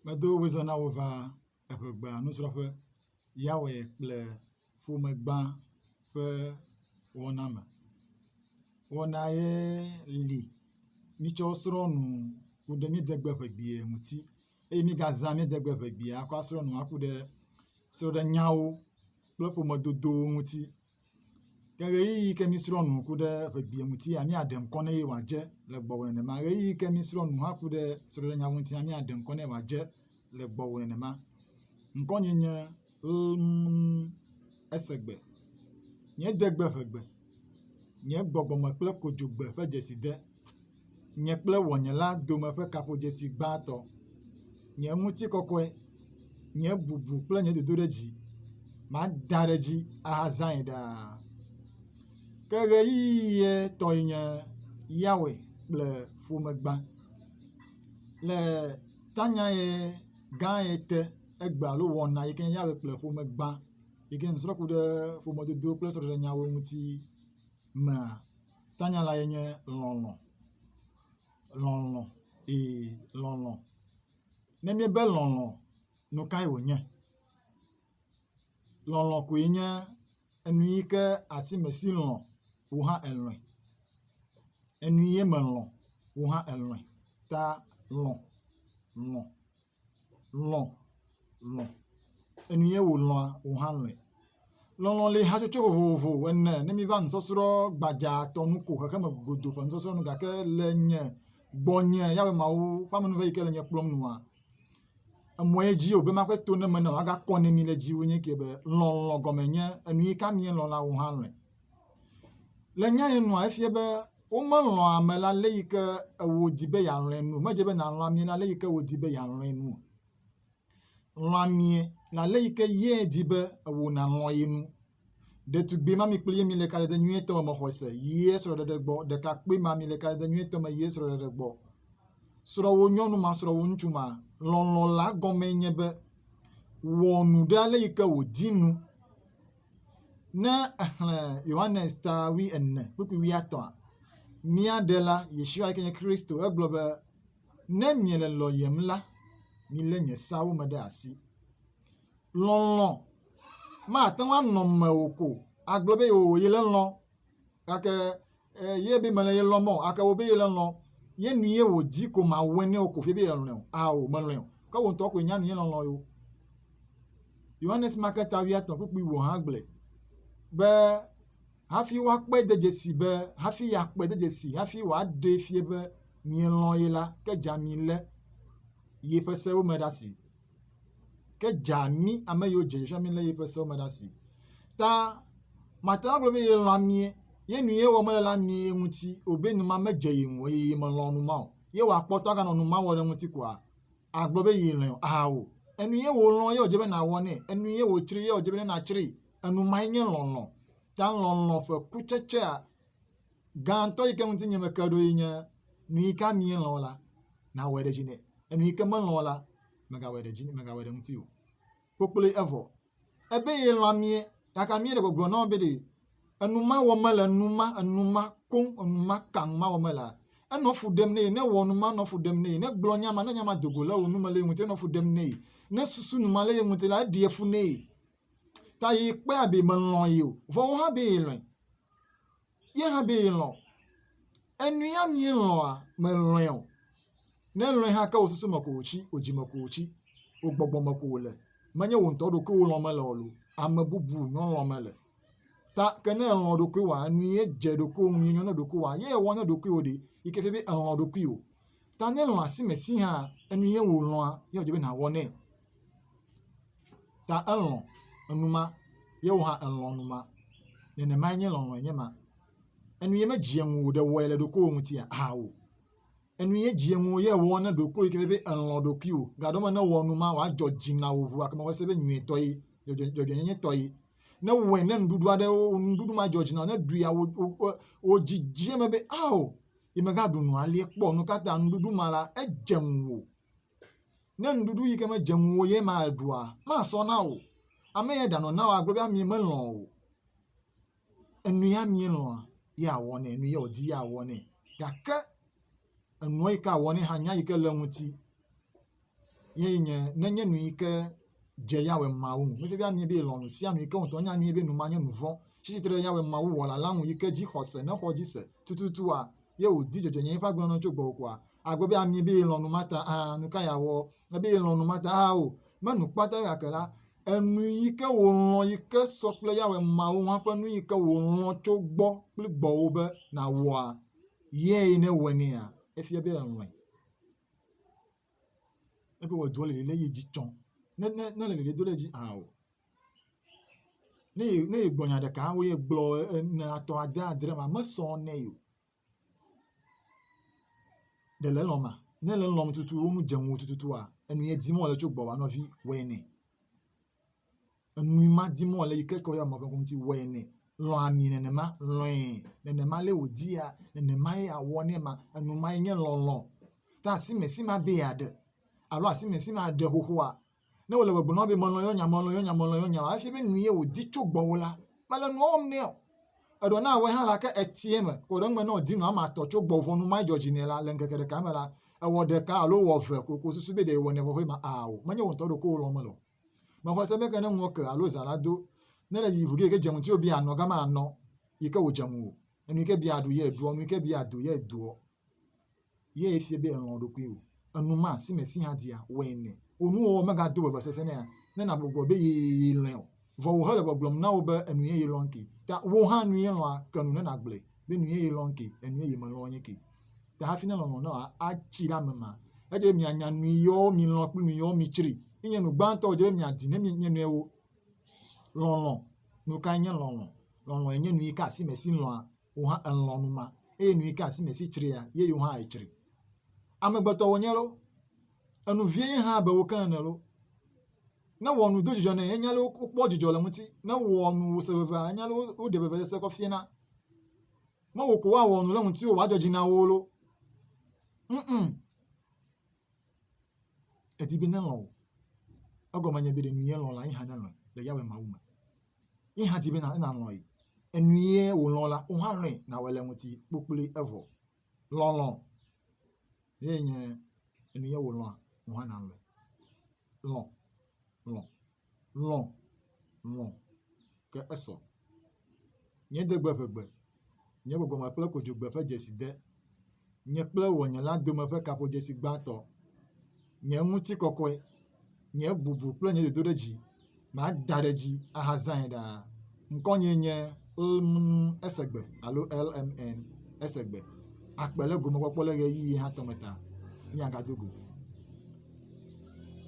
Medo wò zã na wò va eŋe gba nusrɔ̃ƒe. Ya wɔe kple ƒome gba ƒe wɔna me. Wɔna ye li mitsɔ srɔ̃ nu ku ɖe mídegbe ƒe geɖe ŋuti eye mígazã mídegbe ƒe geɖe akɔ asrɔ̃ nu aku ɖe srɔ̃ɖenyawo kple ƒomedodowo ŋuti. Ke ɣeyiɣi yi ke mísrɔ̃ nu ku ɖe ʋegbea ŋuti ya míaɖe ŋkɔ nɛ eye wòadze le gbɔwò nenema. Ɣeyiɣi yi ke mísrɔ̃ nu hã ku ɖe srɔ̃ɖenya ŋuti ya míaɖe ŋkɔ nɛ wòadze le gbɔwò nenema. Ŋkɔnye nye lm esegbe. Nye degbe ʋegbe. Nye gbɔgbɔme kple kodzogbe ƒe dzeside. nye kple ŋɔnye la dome ƒe kaƒodzesi gbãtɔ. Nye ŋutikɔkɔe, nye bubu kple nye dodoɖedzi, mada ɖe edzi ahazãe ɖaa. Ke ɣeyiɣie tɔe nye Yawe kple ƒomegbã. Le tanyae gãe te egbe alo wɔna yi ke nye Yawe kple ƒomegbã yi ke nusrɔ̃ku ɖe ƒomedodo kple sɔɖeɖenyawo ŋuti mea, Tanya lae nye lɔlɔ̃. Lɔlɔ̃, ee lɔlɔ̃. Ne míebe lɔlɔ̃, nu kae wònye? Lɔlɔ̃ koe nye enu yi ke asi ame si lɔ̃ wò hã elɔ̃e. Enu ye melɔ̃, wò hã èlɔ̃e ta lɔ̃ lɔ̃. lɔ̃ lɔ̃ enu ye wòlɔ̃a, wò hã lɔ̃e. Lɔlɔ̃ le hatsotso vovovo ene ne míva nusɔsrɔ̃ gbadzatɔ nu ko, xexeme godo ƒe nusɔsrɔ̃ nu gake le nye gbɔnye Yehowa Mawu ƒe amenuveve yi ke le nye kplɔm nua, emɔ ye dzi wòbe maƒe to ne menɔ woagakɔ ne mi le dziwò nye eke be, lɔlɔ̃ gɔme nye enu yi ka míelɔ̃ la, wò hã lɔ̃e. Le nya ye nua efia be womelɔ̃a ame le ale yi ke wòdi be yealɔ̃e ene o. Medze be nàlɔ̃ amee le ale yi ke wòdi be yealɔ̃e ene o. Lɔ̃ amee le ale yi ke ye di be ewò nàlɔ̃ ye nu. Ɖetugbui ma mi kpli ye mile kaɖedɛ nyuietɔ me mexɔse yie srɔ̃ɖeɖe gbɔ, ɖekakpui ma mile kaɖedɛ nyuietɔ me yie srɔ̃ɖeɖe gbɔ. Srɔ̃ wò nyɔnu ma, srɔ̃ wò ŋutsu ma. Lɔlɔ̃ la gɔmee nye be wɔ nu ɖe ale yi ke wòdi nu Ne èxlẽ Yohanes ta wui ene kpukpui wui etɔ̃a, mía Ɖela, Yeshua yi ke nye Kristo, egblɔ be, Ne miele lɔ̃yem la, milé nye seawo me ɖe asi. Lɔlɔ̃ mate ŋu anɔ mewò ko agblɔ be yewòye lelɔ̃ gake ye be mele ye lɔm o gake wo be ye le lɔ ye nu ye wòdi ko mawɔe nɛ o ko fie be yelɔ̃e o ao melɔ̃e o ke wò ŋutɔ koe nya nu ye lɔlɔ yo yohanes maketa wuiatɔ̃ kpukpui wò hã gblɔe be hafi woakpɔe de dzesi be hafi yeakpɔe de dzesi hafi wòaɖee fie be mielɔ̃ ye la ke dza mi lé yeƒe sewo me ɖe asi Ke dza mí ame yiwo dze Yosua mí lé yeƒe sewo me ɖe asi. Ta mate ŋu agblɔ be ye lɔ̃a mí ye nu ye wɔm mele la mí ye ŋuti o be nu ma medze ye ŋu eye ye melɔ̃ nu ma o. Ye wòakpɔtɔ aganɔ nu ma wɔm ɖe ŋuti koa? Agblɔ be ye lɔ̃e o? Ao. Enu ye wòlɔ̃ ye wòdze be nàwɔ nɛ. Enu ye wòtsri ye wòdze be ne nàtsrii. Enu mae nye lɔlɔ̃. Ta lɔlɔ̃ ƒe kutsetsea gãtɔ yi ke ŋuti nye meke ɖo yi nye nu yi ke mielɔ̃ la, nàwɔe ɖe dzi nɛ. Enu yi ke melɔ̃ la, mègawɔe ɖe dzi mègawɔe ɖe ŋuti o. Kpokploe evɔ. Ebe yelɔ̃ amie gake amie le gbɔgblɔ na wo be ɖe enu ma wɔm mele enu ma enu ma koŋ enu ma kaŋ ma wɔm melea enɔ fu ɖem nɛ ne wɔ nu ma enɔ fu ɖem nɛ ne gblɔ nya ma ne nya ma do go le wo nu me le ye ŋuti enɔ fu ɖem nɛ ne susu nu ma le ye ŋuti la eɖia fu nɛ. ta yi kpea be melɔ̃ ye o, vɔ wo hã be yelɔ̃e. Ye hã be yelɔ̃. Enu ya mielɔ̃a, melɔ̃e o. Ne èlɔ̃e hã ke wò susu me ko wòtsi, wò dzi me ko wòtsi, wò gbɔgbɔ me ko wòle. Menye wò ŋutɔ ɖokuiwò lɔ̃m mele o loo, ame bubu nyɔ lɔ̃m mele. Ta ke ne èlɔ̃ ɖokuiwòa, enu ye dze ɖokuiwò ŋu, ye nyɔ ne ɖokuiwòa, ye èwɔ ne ɖokuiwò ɖe, yi ke fia be èlɔ̃ ɖokuiwò. Ta ne èlɔ̃ asimesi hã, enu ye wòlɔ̃a, ye wòdze be nàwɔ nɛ. Ta elɔ̃ enuma ye wò hã èlɔ̃ enuma. Nenemae nye lɔlɔ̃e nye ma. Enu ye medzea ŋuwò ɖe wɔe le ɖokuiwò ŋutia? Ao. Enu ye dzea ŋuwò ye wɔ na ɖokuiwò yi ke nye be èlɔ̃ ɖokuiwò. Gaɖɔ me ne ewɔ numa wòadzɔ dzi na wò ŋu gake mewɔ se be nyuietɔ ye, dzɔdzɔenyenyetɔ ye. Ne ewɔe ne nuɖuɖu aɖe nuɖuɖu madzɔ dzi na wò ne ɖuia wò wò wò dzi dze eme be ao ye megaɖu nu alie kpɔ nu ka ta nuɖuɖu ma la edze ŋuwò. Ne nuɖuɖu yi ke medze ŋuwò ye ma èɖua, masɔ na wò. Ame ye ɖanɔ na wò agblɔ be amee melɔ̃ o. Enu ye amee lɔ̃a, ye awɔ nɛ, enu ye wòdi ye awɔ nɛ. Gake enuɔ yi ke awɔ nɛ hã, nya yi ke le eŋuti ye nye nenye nu yi ke dze Yehowa Mawu ŋu. Nenye be amee be yelɔ̃ nu sia nu yi ke wò ŋutɔ nya nyuie be nu ma nye nu vɔ̃. Tsi tsitre ɖe Yehowa Mawu Wɔla la ŋu yi ke dzixɔse, ne exɔ edzi se tututua ye wòdi dzɔdzɔenyenye ƒe agbenɔnɔ tso gbɔwò koa, Agbe be ami be yelɔ̃ nu mata hã, nu ka yeawɔ? Ebe yelɔ̃ nu mata hã o. Menu kpata gake la, enu yi ke wòlɔ̃ yi ke sɔ kple Yawe Mawu hã ƒe nu yi ke wòlɔ̃ tso gbɔ kple gbɔwò be nàwɔa, yee ne ewɔe nɛa? Efia be elɔ̃e. Ebe wòwɔe doa, ele ɖe ye dzi tsɔ. Ne ne ne ele ɖe do ɖe edzi hã o. Ne ye ne yegblɔ nya ɖeka woyegblɔ ene, atɔ̃, ade, adre ma mesɔ nɛ o. Ɖe le lɔ̃m ma? Ne le lɔ̃m tutu wonu dze ŋuwò tututua, enu ye dim wòle tso gbɔwòa nɔvi, wɔe nɛ. Enu ma dim wòle yi ke kɔ yɔ mɔɖewo ŋuti, wɔe nɛ. Lɔ̃ ami nenema, lɔ̃e nenema ale wòdia, nenema ye awɔ nɛ ma. Enu mae nye lɔlɔ̃. Ta asimesi ma be yeaɖe alo asimesi ma ɖe xoxoa, Ne wòle gbɔgblɔm na wò be melɔ̃ yewo nya, melɔ̃ yewo nya, melɔ̃ yewo nya o hafi be nu ye wòdi tso gbɔwò la, mele nua wɔm nɛ o. Eɖewo na awɔe hã la, ke etia eme. Kpɔ ɖe eŋu me ne wòdi nu ame atɔ̃ tso gbɔwò vɔ nu madzɔ dzi nɛ la, le ŋkeke ɖeka me la, èwɔ ɖeka alo wɔ eve ko ko susu be ɖe yewɔnɛ vɔ ƒe ma ao. Menye wò ŋutɔ ɖokuiwò lɔ̃m mele o. Mexɔ se be ke ne ŋuwò ke alo zã la do ne le yiyi ŋu ge yi ke dze ŋutiwò be yeanɔ gama anɔ yi ke wòdze ŋuwò. Enu yi ke be yeaɖu ye ɖuɔ, nu yi ke be yeado ye doɔ. Ye efia be èlɔ̃ ɖokuiwò. Enuma si me si hã dia, wɔe nɛ. Wò nuwɔwɔ megado vevesese nɛa? Ne nàgbugbɔ be yee lɔ̃e o, vɔ wò hele gbɔgblɔm na wò be enu yeye lɔ̃m ke ta wò hã nue lɔ̃a, ke nu ne nàgblɔe be nu yeye lɔ̃m ke, enu yeye melɔ̃ nye ke ta hafi ne lɔlɔ̃ nawo atsi ɖe ame ma. Edze be mianya nuyɔwo milɔ̃ kple nuyɔwo mitsri. Enye nu gbãtɔ wòdze be miadi ne mie nɔewo. Lɔlɔ̃. Nu kae nye lɔlɔ̃? Lɔlɔ̃e nye nu yi ke asi me si lɔ̃a wò hã èlɔ̃ nu ma, eye nu yi ke asi nèsi tsria, ye yewo hã atsri. Amegbetɔ wònye loo, enu vie ye hã abe wo ke ene loo, ne wò nu do dzidzɔ nɛ, enya loo, wokpɔ dzidzɔ le ŋuti, ne wò nu wòse vevea, enya loo, woɖe vevesese kɔ fiena. Mewò ko woawɔ nu ɖe ŋutiwò wòadzɔ dzi na wo loo? Ŋ-ŋ. Edi be nelɔ̃ wò. Egɔme nye be ɖe nue lɔ̃ la ye hã nelɔ̃e le Yawe Mawu me. Ye hã di be nàlɔ̃ ye. Enu ye wòlɔ̃ la, wò hã lɔ̃e nàwɔ le eŋuti kpokploe evɔ. Lɔlɔ̃ ye nye enu ye wòlɔ̃a, wò hã nàlɔ̃e. Lɔ̃, lɔ̃. Lɔ̃, lɔ̃, ke esɔ. Nye degbe ƒe gbe, nye gbɔgbɔme kple kodzogbe ƒe dzesi de, nye kple wɔnyela dome ƒe kaƒodzesi gbãtɔ. Nye ŋutikɔkɔe, nye bubu kple nye dodoɖedzi, mada ɖe edzi ahazãe ɖaa. Ŋkɔnyee nye lmn esegbe alo lmn esegbe. Akpe ɖe gomekpɔkpɔ le ɣeyiɣi hã tɔ me ta. Míagado go.